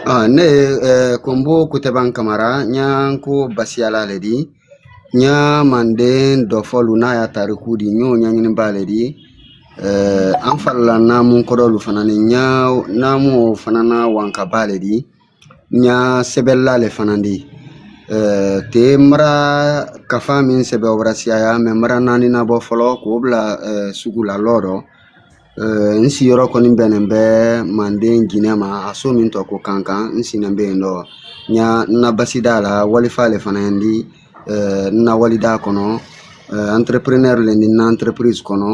Ah, ne ye eh, Kombo Kuteban Kamara n ye Nko basiyala le di n y'a manden dɔfɔ lu n'a y'a tariku di n y'o ɲaɲiniba le di eh, an fa lu la naamu kɔdɔ lu fana ni n y'a naamu o fana nawankaba le di n y'a sɛbɛlila le fana di eh, te mara kafa min sɛbɛ o bara siyaya mɛ mara naani nabɔ fɔlɔ k'o bila eh, sugu la lɔɔ rɔ n siiyɔrɔ kɔni bɛnnen bɛ Manden Jinɛ ma a so min tɔ ko Kankan n siinen bɛ yen dɔ n y'a n na basida la walifa le fana ye n di n na walida kɔnɔ entrepreneur le n di n na entreprise kɔnɔ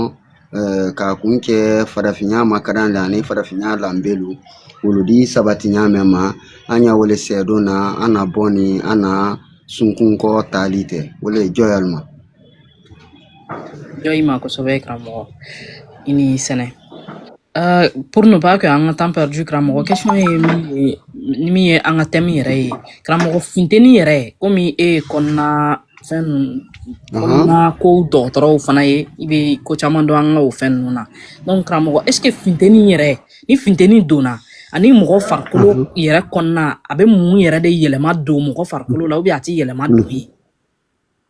k'a kun kɛ farafinya makadan la ani farafinya lanbe lu wolu di sabati ɲa mɛn ma an ye o le sɛdon na an na bɔ ni an na sunkun kɔ taali tɛ o le ye jɔyalima jɔyi ma kosɛbɛ karamɔgɔ i ni sɛnɛ Uh, pour ne pas que an ka temps perdu karamɔgɔ question ye min ye ni min ye an ka thème yɛrɛ ye karamɔgɔ funteni yɛrɛ komi e ye kɔnɔna fɛn ninnu kɔnɔna ko dɔgɔtɔrɔw fana ye i bɛ ko caman dɔn an ka o fɛn ninnu na donc karamɔgɔ est ce que funteni yɛrɛ ni funteni donna ani mɔgɔ farikolo yɛrɛ kɔnɔna a bɛ mun yɛrɛ de yɛlɛma don mɔgɔ farikolo la ou bien a tɛ yɛlɛma don ye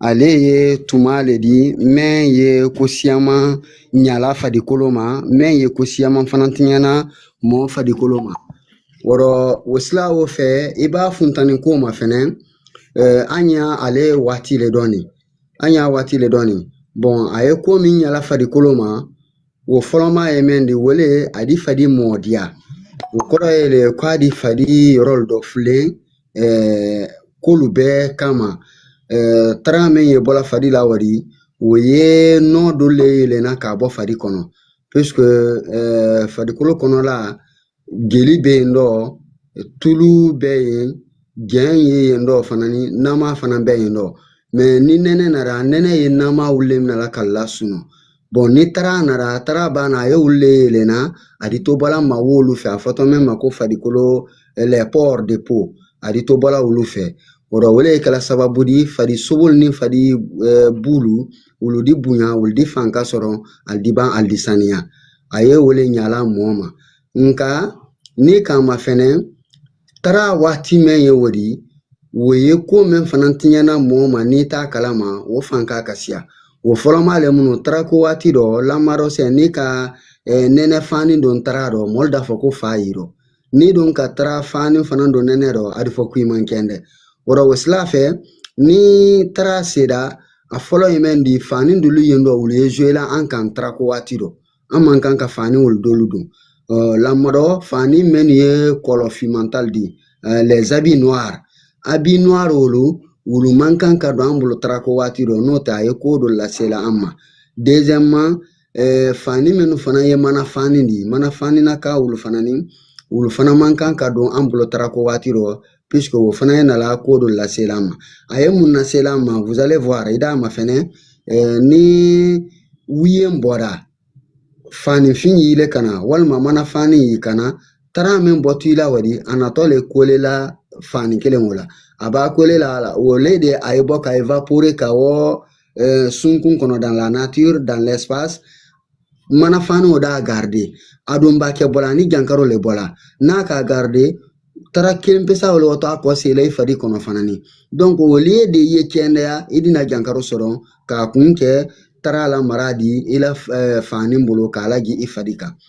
ale ye tuma le di mɛn ye ko siyaman ɲa la fadikolo ma mɛn ye ko siyaman fana tiɲɛ na mɔɔ fadikolo ma o rɔ o sila o fɛ i ba funtani ko mafɛnɛ eh, an ye ale waati le dɔ nin an y'a waati le dɔ nin bon a ye ko min ɲa la fadikolo ma O fɔlɔma ye mɛn di o le a di fadi mɔdiya o kɔrɔ ye le k'a di fadi yɔrɔ dɔfulen k'olu bɛɛ kama tara min ye bɔ la fadi la wari o ye nɔɔ dɔ le yelen na k'a bɔ fadi kɔnɔ puisque fadikolo kɔnɔ la jeli bɛ yen dɔ tulu bɛ yen jɛn ye yen dɔ fana ni nama fana bɛ yen dɔ ni nɛnɛ nara nɛnɛ ye nama wolu le mina k'alu lasunɔɔ bon ni tara nara tara ba na a ye wolu yelen na a di to bɔ la ma wo lu fɛ a fɔtɔ mɛn ma ko fadikolo les pores de peau a di to bɔ la wolu fɛ o rɔ o le kɛ la sababu di fadi sobo lu ni fadi bu lu wolu di bonya wolu di fanka sɔrɔ alu di ban alu di saniya a ye o le ɲa la mɔɔ ma nka n'i k'a mafɛnɛ tara waati mɛn ye o di o ye ko min fana tiɲɛ na mɔɔ ma n'i t'a kalama o fan k'a ka siya o fɔlɔma le minnu tara ko waati dɔ lamarɔsɛ n'i ka nɛnɛ fani don tara dɔ mɔɔ lu d'a fɔ ko fa y'i rɔ ni dun ka tara fani fana don nɛnɛ rɔ a di fɔ ko i man kɛndɛ wɔrɔ o sila fɛ ni tara seda a fɔlɔ ye mɛn di fani dolu yen dɔ wolu ye jouer la an kan tara ko waati dɔ an man kan ka fani wolu dolu don lamɔdɔ fani mɛn ye couleur fiman ta le di les habits noirs habits noirs wolu wolu man kan ka don an bolo tara ko waati dɔ n'o tɛ a ye ko dɔ lasela an ma deuxièmement fani minnu fana ye mana fani di mana fani na ka wolu fana ni wolu fana man kan ka don an bolo tara ko waati dɔ o fana ye nala ko dɔ lasela an ma a ye mun lasela an ma vous allez voir i d'a mafɛnɛ ni wiye bɔra fani fin y'ile kan na walima mana fani y'i kan na tara min bɔtɔ i la wadi a natɔ le coller la fani kelen o la a b'a coller la au lieu de a ye bɔ ka évaporer ka wa eh, sunkun kɔnɔ dans la nature dans l'espace mana fani o d'a garder a don ba kɛ bɔla ni jankaro le bɔla n'a k'a garder tara kelen pe sa wo le watɔ a kɔseyi la i fadi kɔnɔ fana ni donc au lieu de ye kɛndɛya i di na jankaro sɔrɔ k'a kun kɛ tara lamara di i la eh, fani bolo k'a lagi i fari kan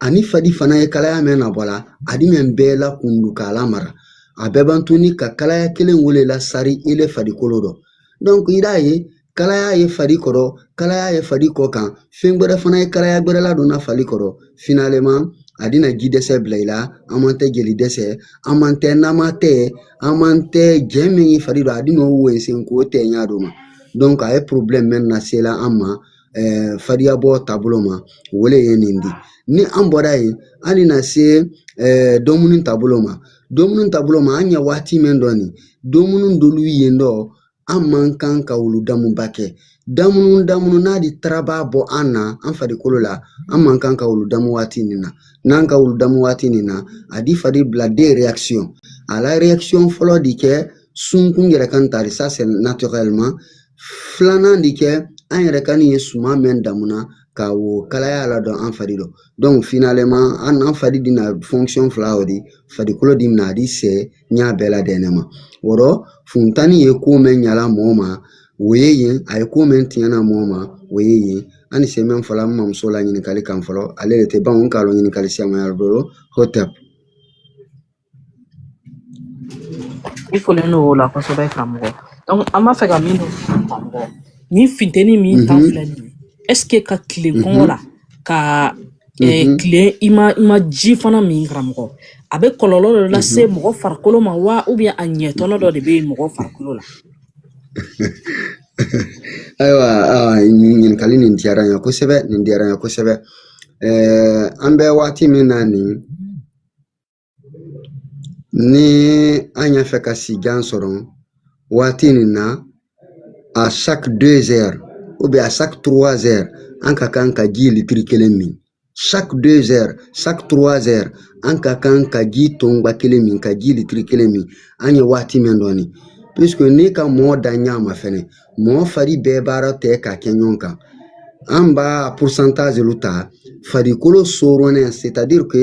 ani fadi fana ye kalaya mɛn nabɔ la a di mɛn bɛɛ lakundu k'a lamara a bɛ ban tuni ka kalaya kelen wo le lasari ile farikolo dɔ donc i d'a ye kalaya ye fari kɔrɔ kalaya ye fari kɔkan fɛn gwɛrɛ fana ye kalaya gwɛrɛ ladonna fari kɔrɔ finalement a di na ji dɛsɛ bila i la en même temps jeli dɛsɛ en même temps nama tɛ en même temps ji min ye fari dɔ a din'o wensen k'o tɛ ɲa do ma donc a ye problème mɛn nasela an ma fadiyabɔ taabolo ma wo le ye nin di ni an bɔra yen an di na se damunun taabolo ma damunun taabolo ma an ɲɛ waati min dɔ nin damunun dolu yen dɔ an man kan ka wolu damuba kɛ damunun damunun n'a di taraba bɔ an na an farikolo la an man kan ka wolu damu waati nin na n'an ka wolu damu waati nin na a di fari bila des réactions la réaction fɔlɔ di kɛ sunkun yɛrɛ kan tari ça c'est naturellement filanan di kɛ an yɛrɛ kan i ye suman mɛn damunna ka wo kalaya ladon an fari dɔ finalement an n'an fari di na fila o de farikolo di na a di sɛɛ ɲa bɛɛ ladɛnnɛn ma wɔrɔ funtani ye ko mɛn ɲala mɔɔ ma o ye yen a ye ko mɛn tiɲɛna mɔɔ ma o ye yen an ni se mɛn fɔla an mamuso la ɲininkali kan fɔlɔ ale de tɛ ban k'a dɔn ɲininkali siyaman y'a bolo hotɛp I folen don o la kosɛbɛ karamɔgɔ donc an b'a fɛ ka min dɔn karamɔgɔ nin funteni min ta filɛ nin ye est ce que ka tile kɔngɔ la ka eh, tile i ma i ma ji fana min karamɔgɔ a bɛ kɔlɔlɔ dɔ lase mɔgɔ farikolo ma wa ou bien a ɲɛtɔnɔ dɔ de bɛ yen mɔgɔ farikolo la ayiwa awa, nin ɲininkali nin diyara n ye kosɛbɛ nin diyara n ye kosɛbɛ Ɛɛ, an bɛ waati min na nin ni an y'a fɛ ka sijan sɔrɔ waati nin na à chaque deux heures ou bien à chaque trois heures an ka kan ka ji litiri kelen min chaque deux heures chaque trois heures an ka kan ka ji tonba kelen min ka ji litiri kelen min an ye waati min dɔ nin puisque n'i ka mɔɔ danɲa mafɛnɛ mɔɔ fari bɛɛ bara tɛɛ ka kɛ ɲɔgɔn kan an b'a pourcentage lu ta farikolo sooronnɛ c'est à dire que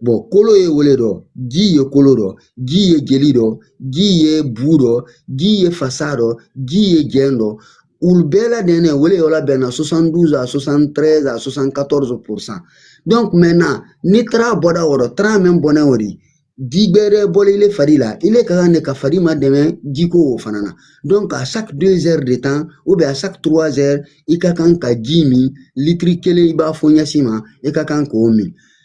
bon kolo ye o le dɔ ji ye kolo dɔ ji ye jeli dɔ ji ye bu dɔ ji ye fasa dɔ ji ye jɛn dɔ olu bɛɛ ladɛnnen o le yɔrɔ bɛnna 72 à 73 à 74 pourcent donc maintenant ni tara bɔda o rɔ tara min bɔnɛ o de ji gbɛrɛ bɔlen ile fari la ile ka kan de ka fari madɛmɛ jiko o fana na donc à chaque deux heures de temps ou bien à chaque trois heures i ka kan ka ji min litiri kelen i b'a fɔ ɲɛsin ma i ka kan k'o min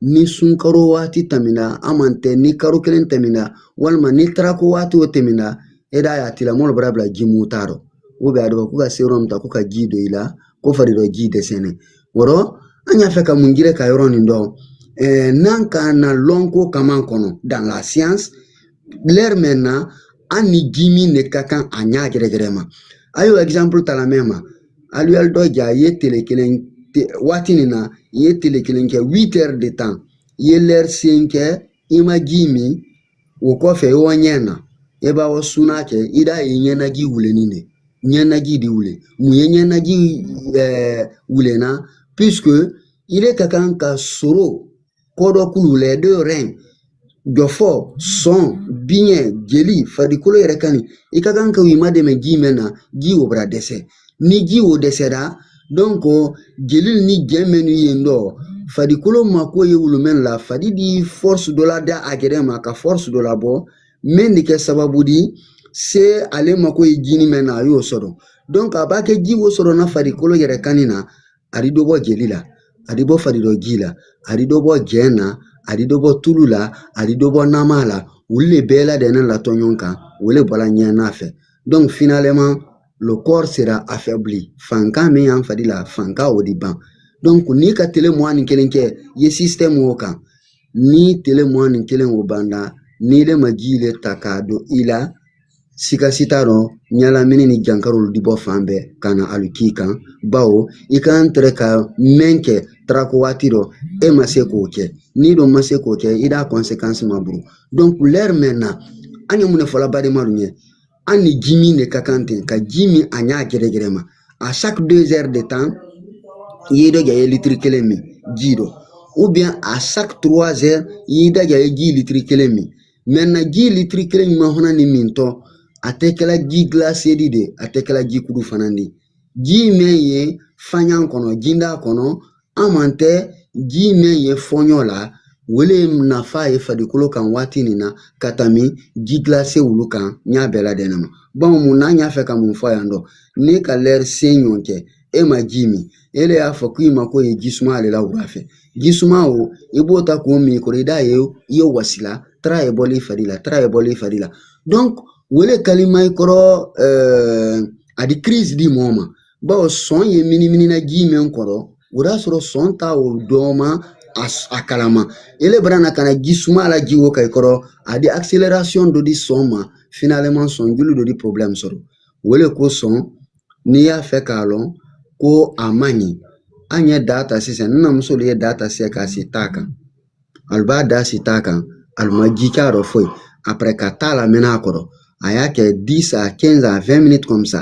ni sunkaro waati tɛmɛna hamantɛ ni karo kelen tɛmɛna walima ni tarako waati o tɛmɛna i d'a y'a tila mɔɔlu bara bila ji mun t'a dɔ ou bien a dɔ ko ka sérum ta ko ka ji don i la ko fari dɔ ji dɛsɛnɛ o rɔ an y'a fɛ ka mun jira ka yɔrɔ nin dɔ eh, n'an ka na lɔnko kama kɔnɔ dans la science l'heure maintenant an ni ji min de ka kan a ɲa gɛrɛgɛrɛ ma an y'o exemple ta la mɛn ma alu y'alu dɔja i ye tele kelen waati nin na i ye tele kelen kɛ huit heures de temps i ye lɛri seyin kɛ i ma ji min o kɔfɛ i wa ɲɛna i ba wa suna kɛ i d'a ye ɲɛnaji wulennin de ɲɛnaji di wulen mun ye ɲɛnaji ɛɛ wulenna puisque ile ka kan ka soro kɔdɔkulu les deux reins jɔfɔ sɔn biɲɛ jeli farikolo yɛrɛkanin i ka kan ka i madɛmɛ ji mɛn na ji o bara dɛsɛ ni ji o dɛsɛra donc jeli ni jɛn mɛnnu ye n dɔ farikolo mako ye olu mɛn la fadi di force dɔ lada a gɛrɛ ma ka force dɔ labɔ mɛn di kɛ sababu di se ale mako ye ji nin mɛn na a y'o sɔrɔ donc a b'a kɛ ji o sɔrɔ na farikolo yɛrɛkanin na a di dɔ bɔ jeli la a di bɔ fari dɔ ji la a di dɔ bɔ jɛn na a di dɔ bɔ tulu la a di dɔ bɔ nama la olu le bɛɛ ladɛnnen latɔ ɲɔgɔn kan o le bɔla ɲɛna fɛ donc finalement le corps sera affaibli fanka min y'an fari la fanka o di ban donc n'i ka tele mugan ni kelen kɛ i ye système o kan ni tele mugan ni kelen o banda n'ile ma ji le ta k'a don i la sika si t'a dɔ ɲalamini ni jankaro di bɔ fan bɛɛ ka na ali k'i kan bawo i kan tɛrɛ ka mɛn kɛ tarako waati dɔ e ma se k'o kɛ n'i dɔ ma se k'o kɛ i d'a conséquence ma buru donc lɛri maintenant an ye mun de fɔla badenmalu ɲɛ an ni ji min de ka kan ten ka ji min a ɲa gɛrɛgɛrɛ ma à chaque deux heures de temps i ye dɔja ye litiri kelen min ji dɔ ou bien à chaque trois heures i y'i dɔja ye ji litiri kelen min maintenant ji litiri kelen ɲuman fana ni min tɔ a tɛ kɛla ji gilase di de a tɛ kɛla ji kudu fana di ji mɛn ye fanyan kɔnɔ jinda kɔnɔ hamantɛ ji mɛn ye fɔɲɔ la wo le nafa ye farikolo kan waati nin na ka tɛmɛ ji gilase wolu kan n y'a bɛɛ ladɛnɛ ma bon mun na an y'a fɛ ka mun fɔ yan dɔ ne ka lɛri sen ɲɔgɔn kɛ e ma ji min e de y'a fɔ ko i mako ye ji suma le la wula fɛ ji suma o i b'o ta k'o min kɔrɔ i d'a ye i ye wasila tara ye bɔl'i fari la tara ye bɔl'i fari la wo le kalaman i kɔrɔ eh, a di crise di mɔɔ ma bawo sɔn ye miniminina ji min kɔrɔ o y'a sɔrɔ sɔn ta o dɔ ma a kalama ele bara na ka na ji suma lajii wo kan i kɔrɔ a di accélération dɔ di sɔn ma finalement sɔn joli dɔ di problème sɔrɔ wo le kosɔn n'i y'a fɛ k'a lɔn ko a man ɲi an ye da ta sisan ni na muso ye da ta sisan k'a si ta kan ali ba da si ta kan ali ma ji k'a rɔ foyi après ka ta lamɛnɛ a kɔrɔ a y'a kɛ 10 à 15 à 20 minutes comme ça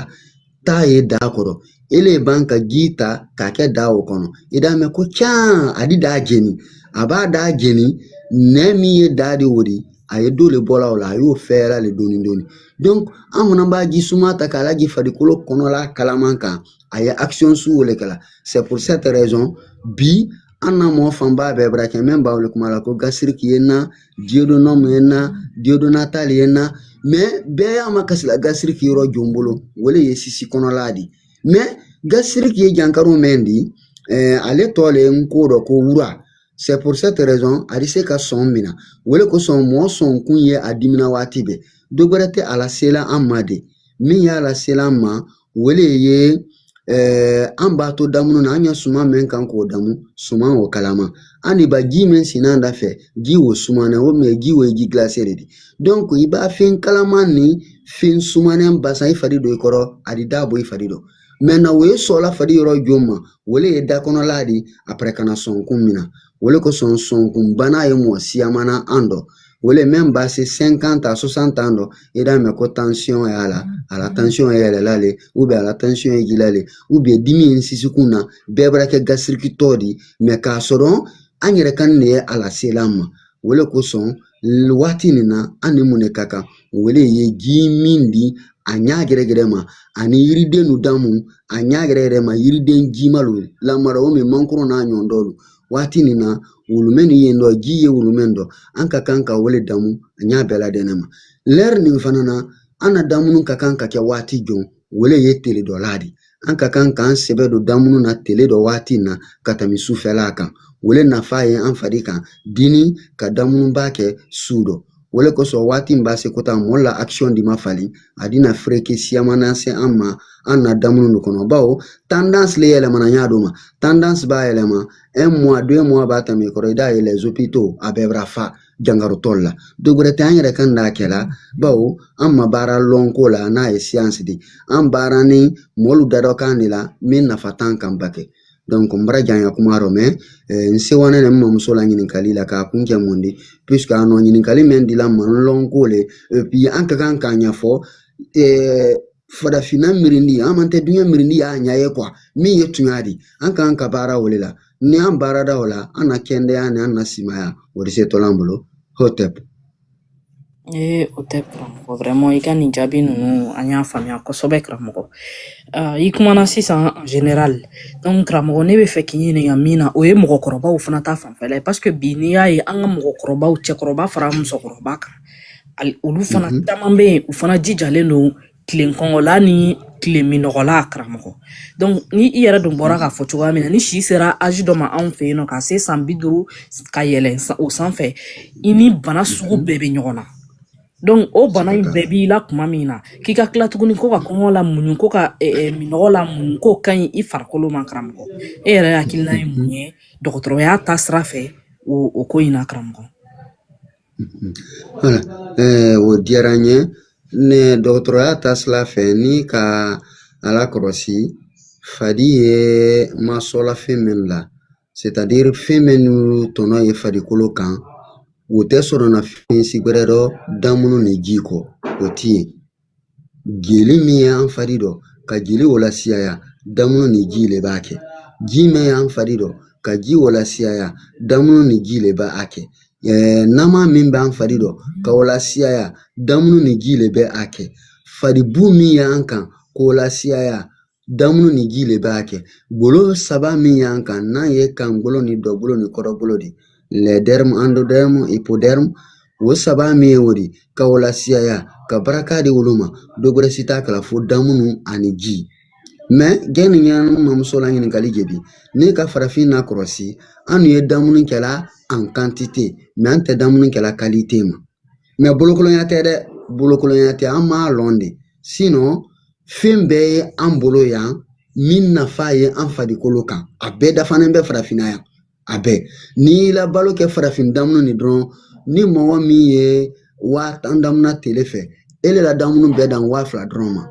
ta ye da kɔrɔ ele ban ka ji ta k'a kɛ da o kɔnɔ i d'a mɛn ko can a di da jeni a ba da jeni nɛɛ min ye da di o de a ye dɔ le bɔla o la a y'o fɛɛrɛ le dɔɔni dɔɔni an fana ba ji suma ta k'a lajii farikolo kɔnɔla kalaman kan a ye action su wo le kɛla c'est pour cette raison bi an na mɔgɔ fanba bɛɛ bara kɛ mɛ b'a wo le kuma la ko gasiriki ye n na duodénum ye n na diyodonnatali ye n na mais bɛɛ y'a makasila gasiriki yɔrɔ jɔn bolo o de ye sisi kɔnɔla di mais gasiriki ye jankaro mɛn di eh, ale tɔ le nko dɔ ko wura c'est pour cette raison a di se ka sɔn mina o de kosɔn mɔɔ sɔnkun ye a dimina waati bɛɛ dɔ wɛrɛ tɛ a lasela an ma de min y'a lasela an ma o de ye eh, an b'a to damunu na an ye suman min kan k'o damu suman o kalama an de ba ji min sinna da fɛ ji o suman o mɛ ji o ye ji gilase de di donc i ba fɛn kalaman ni fɛn sumanen basan i fari dɔ i kɔrɔ a di da bɔ i fari dɔ maintenant o ye sɔɔla fadi yɔrɔ jɔn ma wo le ye da kɔnɔla di après ka na sɔnkun mina wo le kosɔn sɔnkun bana ye mɔgɔ siyaman na an dɔ wo le mɛn ba se 50 à 60 ans dɔ i d'a mɛn ko tansiyɔn y'a la a la tansiyɔn ye yɛlɛla le ou bien a la tansiyɔn ye jila le ou bien dimi ye n sisikun na bɛɛ bara kɛ gasirikitɔ di mais k'a sɔrɔ an yɛrɛ kan de ye a lasela an ma wo le kosɔn waati nin na an ni mun de ka kan o le ye ji min di a ɲa gɛrɛgɛrɛ ma ani yiriden nu damu a ɲa gɛrɛgɛrɛ ma yiriden jima lu lamara o min mankoro n'a ɲɔgɔn dɔlu waati nin na wulumɛ nin yen dɔ ji ye wulumɛ dɔ an ka kan ka o le damu a ɲa bɛɛ ladɛnɛ ma lɛri nin fana na an na damunu ka kan ka kɛ waati jɔn o le ye tele dɔ la di an ka kan k'an sɛbɛ don damunu na tele dɔ waati na ka tɛmɛ sufɛla kan o le nafa ye an fari kan dini ka damunuba kɛ su dɔ o le kosɔn waati min ba se kota mɔɔ la akisiyɔn di ma fali a dina fereke siyamana se an ma an na damunu de kɔnɔ bawo tendance le yɛlɛmana y'a dɔ ma tendance ba yɛlɛma un mois deux mois ba tɛmɛ kɔrɔ i d'a ye les hôpitaux a bɛɛ bara fa jankarotɔlu la dɔ wɛrɛ tɛ an yɛrɛ ka na kɛla bawo an ma baara lɔnko la n'a ye science di an baara ni mɔɔlu dadɔ kan de la min nafa t'an kan ba kɛ n bara janya kuma dɔ mais n sewana ne mamuso la ɲininkali la k'a kun kɛ mun di puisque a nɔ ɲininkali min dila manlɔnko le puis an ka kan k'a ɲɛfɔ farafinna mirindi an man tɛ duɲɛ mirindi y'a ɲɛ ye min ye tuɲa di an kan ka baara o le la ni an baarada o la an na kɛndɛya ni an na simaya o di se to la an bolo hotep ee o tɛ karamɔgɔ vraiment i ka nin jaabi ninnu an y'a faamuya kosɛbɛ karamɔgɔ uh, i kumana sisan en général donc karamɔgɔ ne b'a fɛ k'i ɲininka min na o ye mɔgɔkɔrɔbaw fana ta fanfɛla ye parce que bi n'i y'a ye an ka mɔgɔkɔrɔbaw cɛkɔrɔba fara musokɔrɔba kan olu fana mhm. caman bɛ yen u fana jijalen don tilen kɔngɔ la ni tilen minɔgɔ la karamɔgɔ donc ni i yɛrɛ dun bɔra k'a fɔ cogoya min na ni si sera âge dɔ ma anw fɛ yen n'o ka se san bi duuru ka yɛlɛn o sanfɛ i ni bana sugu bɛɛ bɛ ɲɔgɔn na donc o bana in bɛɛ b'i la kuma min na k'i ka tila tuguni ko ka kɔngɔ la muɲu ko ka eh, eh, minɔgɔ la muɲu k'o ka ɲi i farikolo ma karamɔgɔ e yɛrɛ hakilina ye mun ye dɔgɔtɔrɔya taasira fɛ o o ko in na karamɔgɔ o diyara n ye ne dɔgɔtɔrɔya taasira fɛ n'i ka a lakɔlɔsi fadi ye masɔla fɛn min la c'est-à-dire fɛn minnu tɔnɔ ye farikolo kan o tɛ sɔrɔ na fɛn si wɛrɛ dɔ damunu ni ji kɔ o ti ye Jeli min y'an fari dɔ ka jeli o lasiyaya damunu ni ji le b'a kɛ ji min y'an fari dɔ ka ji o lasiyaya damunu ni ji le bɛ a kɛ nama min b'an fari dɔ ka o lasiyaya damunu ni ji le bɛ a kɛ faribu min y'an kan k'o lasiyaya Damunu ni ji le b'a kɛ golo saba min y'an kan n'a ye kan golo ni dɔ golo ni kɔrɔ golo di les dermes endoderme hypoderme o saba min ye o di ka o lasiyaya ka baraka di olu ma dɔ gɛrɛ si t'a kɛla fo damunu ani ji mais yani n ye n mamuso la ɲininkali jebi ne ka farafinna kɔrɔsi an ye damunu kɛla en quantité mais an tɛ damunu kɛla qualité ma mais bolokolonya tɛ dɛ bolokolonya tɛ an m'a lɔn de fɛn bɛɛ ye an bolo yan min nafa ye an farikolo kan a bɛɛ dafanen bɛ farafinna yan a bɛɛ n'i y'i la balo kɛ farafin damunu nin dɔrɔn ni mɔgɔ min ye waa tan damuna tele fɛ ele la damunu bɛ dan waa fila dɔrɔn ma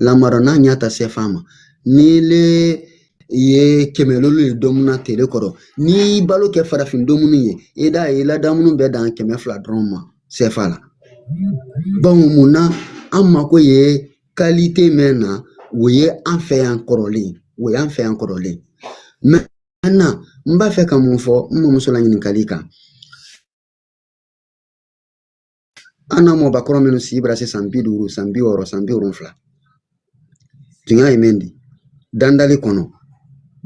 lamara n'i y'a ta sɛfa ma n'ile i ye kɛmɛ loolu ye domuna tele kɔrɔ n'i y'i balo kɛ farafin domunu ye i da i la damunu bɛ dan kɛmɛ fila dɔrɔn ma sɛfa la bawo mun na an mako ye qualité mɛn na o ye an fɛ yan kɔrɔlen o y'an fɛ yan kɔrɔlen maintenant n b'a fɛ ka mun fɔ n mamuso la ɲininkali kan an na mɔbakɔrɔ minnu si bara se san bi duuru san bi wɔɔrɔ san bi wolonfila tuɲa ye min di dandali kɔnɔ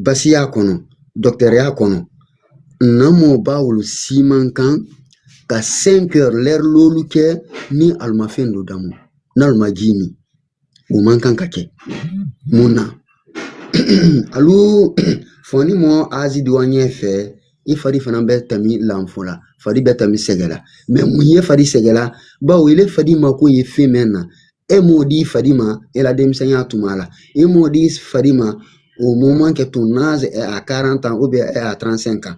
basiya kɔnɔ dɔkitɛriya kɔnɔ na mɔba olu si man kan ka 5 heures l'heure loolu kɛ ni alu ma fɛn dɔ damu n'alu ma ji min O man kan ka kɛ mun na alo fɔ ni mɔgɔ âge di wa ɲɛ fɛ i fari fana bɛ tɛmɛ lanfu la fari bɛ tɛmɛ sɛgɛla mais mun ye fari sɛgɛla bawo ile fadi mako ye fɛn mɛn na e m'o di fadi ma e la denmisɛnya tuma la e m'o di fadi ma au moment que ton âge est à quarante ans ou bien à trente-cinq ans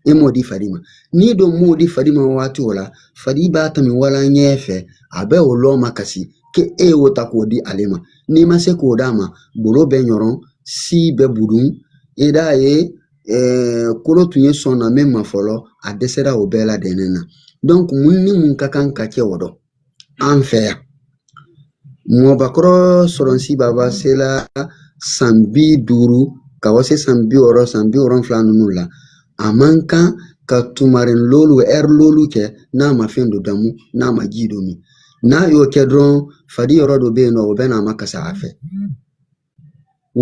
e m'o di fari ma n'i don m'o di fari ma waati o la fari b'a tɛmɛ wala ɲɛ fɛ a bɛ o lɔ makasi k'e y'o ta k'o di ale ma n'i ma se k'o d'a ma golo bɛ ɲɔrɔn si bɛ budun i d'a ye eh, kolo tun ye sɔn na min ma fɔlɔ a dɛsɛra o bɛɛ la dɛnɛn na donc mun ni mun ka kan ka kɛ o dɔ an fɛ yan mɔbakɔrɔ sɔrɔn si baba sela san bi duuru ka wa se san bi wɔɔrɔ san bi wolonfila ninnu la a man kan ka tumarɛn loolu lɛri loolu kɛ n'a ma fɛn dɔ damu n'a ma ji dɔ min n'a y'o kɛ dɔrɔn fadi yɔrɔ dɔ bɛ yen nɔ o bɛ n'a makasi a fɛ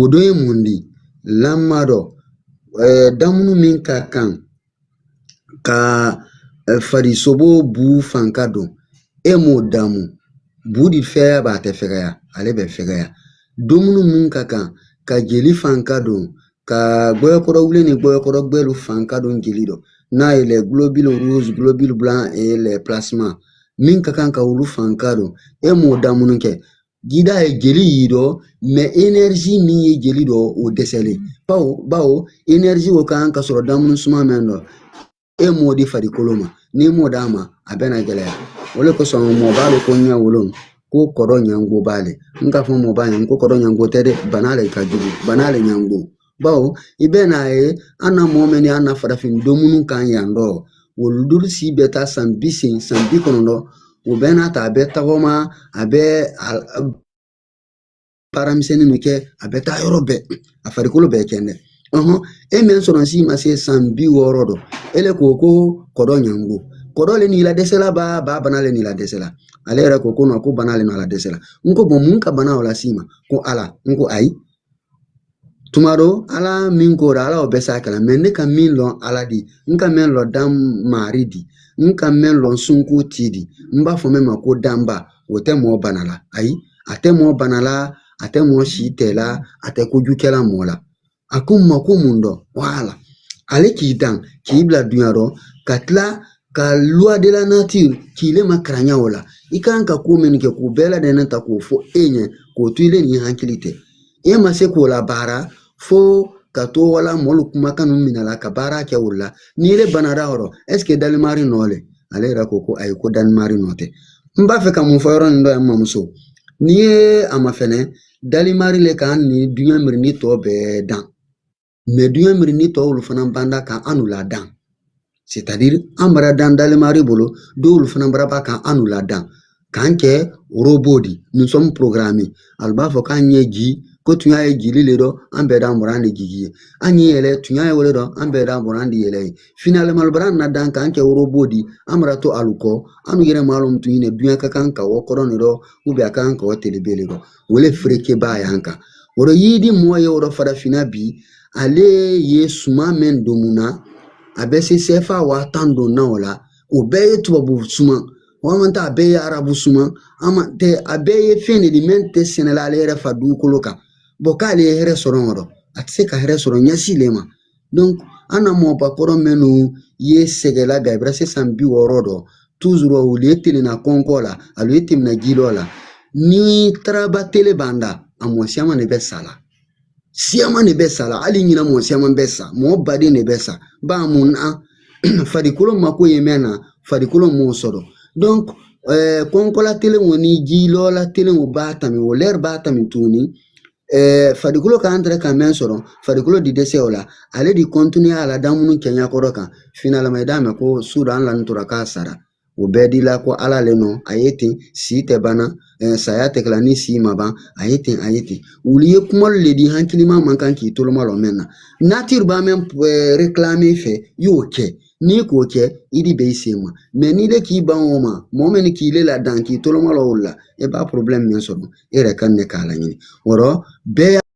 O dɔ ye mun di lamɔ dɔ damunu min ka kan ka farisogo bu fanka don e m'o damu bu di fɛya b'a tɛ fɛgɛya ale bɛ fɛgɛya dumuni min ka kan ka jeli fanka don ka gbɛyɔkɔrɔ wulen ni gbɛyɔkɔrɔ gbɛlu fanka don jeli dɔ n'a ye les globules rouges globules blancs et les plasmas min ka kan ka olu fanka don e m'o damunu kɛ Gida ye jeli y'i dɔ mais enerzi min ye jeli dɔ o dɛsɛlen bawo bawo enerzi o kan ka sɔrɔ damuni suma mɛn dɔ e m'o di farikolo ma n'i m'o d'a ma a bɛna gɛlɛya o le kosɔn mɔbaalu ko ɲɛ wolon ko kɔrɔ ɲango b'ale n k'a fɔ mɔbaa ɲɛ ko kɔrɔ ɲango tɛ dɛ bana le ka jugu bana le ɲango Bawo i bɛ n'a ye an na mɔgɔ min an na farafin dumuni kan yan dɔ olu dɔlu si bɛ taa san bi seegin san bi kɔnɔntɔn o bɛɛ n'a ta a bɛ tagama a bɛ baara misɛnnin min kɛ a bɛ taa yɔrɔ bɛɛ a farikolo bɛɛ kɛndɛ e min sɔrɔ si ma se san bi wɔɔrɔ dɔ e le ko ko kɔdɔ ɲango kɔdɔ le n'i la dɛsɛla ba ba bana le n'i la dɛsɛla ale yɛrɛ ko ko ko bana le n'i la dɛsɛla n ko mun ka bana o las'i ma ko ala n ko ayi tuma dɔ ala min ko ala o bɛ s'a kala mɛ ne ka min lɔn ala de n ka mɛn lɔ dan maari di n ka mɛn lɔn sunko ti di n b'a fɔ min ma ko danba o tɛ mɔɔ bana la ayi a tɛ mɔɔ bana la a tɛ mɔɔ si tɛ la a tɛ kojukɛla mɔɔ la a ko n ma ko mun dɔn wala ale k'i dan k'i bila dunya dɔ ka tila ka loi de la nature k'i le ma karanya o la i kan ka ko min kɛ k'o bɛɛ ladɛnɛn ta k'o fɔ e ɲɛ k'o to i le nin hakili tɛ e ma se k'o labaara fo ka to wali mɔlu kumakan ninnu minɛ la ka baara kɛ o la n'i le banara yɔrɔ est-ce que dalimari nɔ le ale yɛrɛ ko ko ayi ko dalimari nɔ tɛ n b'a fɛ ka mun fɔ yɔrɔ nin dɔ yan mamuso n'i ye a mafɛnɛ dalimari le k'an ni duɲa mirindi tɔ bɛɛ dan duɲa mirindi tɔw olu fana ban da ka annu ladan c'est-à-dire an bara dan dalimari bolo dɔw olu fana bara ban ka annu ladan k'an kɛ robot di nous sommes programmés alu b'a fɔ k'an ye jii ko tuɲa ye jiili le dɔ an bɛɛ d'an bori an di jigi yen an ye yɛlɛ tuɲa ye o le dɔ an bɛɛ d'an bori an di yɛlɛ yen finalement bara an ladan k'an kɛ robot di an bara to alu kɔ an yɛrɛ m'a lɔn tun ye duɲa ka kan ka wa kɔrɔn ne dɔ ou bien a ka kan ka wa telebe le dɔ o le fereke b'a yan kan o rɔ yiri di mɔgɔ ye o rɔ farafinna bi ale ye suma mɛn domunna a bɛ se sɛfa waa tan don na o la o bɛɛ ye tubabu suma walima tɛ a bɛɛ ye arabu suma hamantɛ a bɛɛ ye fɛn ne di mɛn tɛ sɛnɛla ale yɛrɛ fa dugukolo kan bon k'ale ye hɛrɛ sɔrɔ o rɔ a tɛ se ka hɛrɛ sɔrɔ ɲa si le ma an na mɔba kɔrɔ minnu ye sɛgɛla bi i bara se san bi wɔɔrɔ dɔ toujours olu ye telenna kɔnkɔ la olu ye tɛmɛna jilɔ la ni taraba tele ban da a mɔ siyaman de bɛ sa la siyaman de bɛ sa la hali ɲinan mɔ siyaman bɛ sa mɔɔ baden de bɛ sa ba mun na farikolo mako ye mɛn na farikolo m'o sɔrɔ donc ɛɛ kɔnkɔla telen o ni jilɔla telen o ba tami o lɛri ba tami tuguni Ɛɛ farikolo ka kan tɛrɛ ka mɛn sɔrɔ farikolo di dɛsɛ o la ale di continuer a la damuni kɛɲa kɔrɔ kan finalement i d'a mɛn ko su dɔ a lani tora k'a sara o bɛɛ di la ko ala le nɔ a ye ten si tɛ banna saya tɛ kɛla ni si ma ban a ye ten a ye ten olu ye kumalu le di hakilima man kan k'i toloma lɔ mɛn na nature ba mɛn réclamer i fɛ i y'o kɛ n'i k'o kɛ i di bɛ i sen ma mais n'i le k'i ban o ma mɔgɔ min k'i le ladan k'i toloma lɔ o la e ba problème min sɔrɔ e yɛrɛ kan ne k'a laɲini o rɔ bɛɛ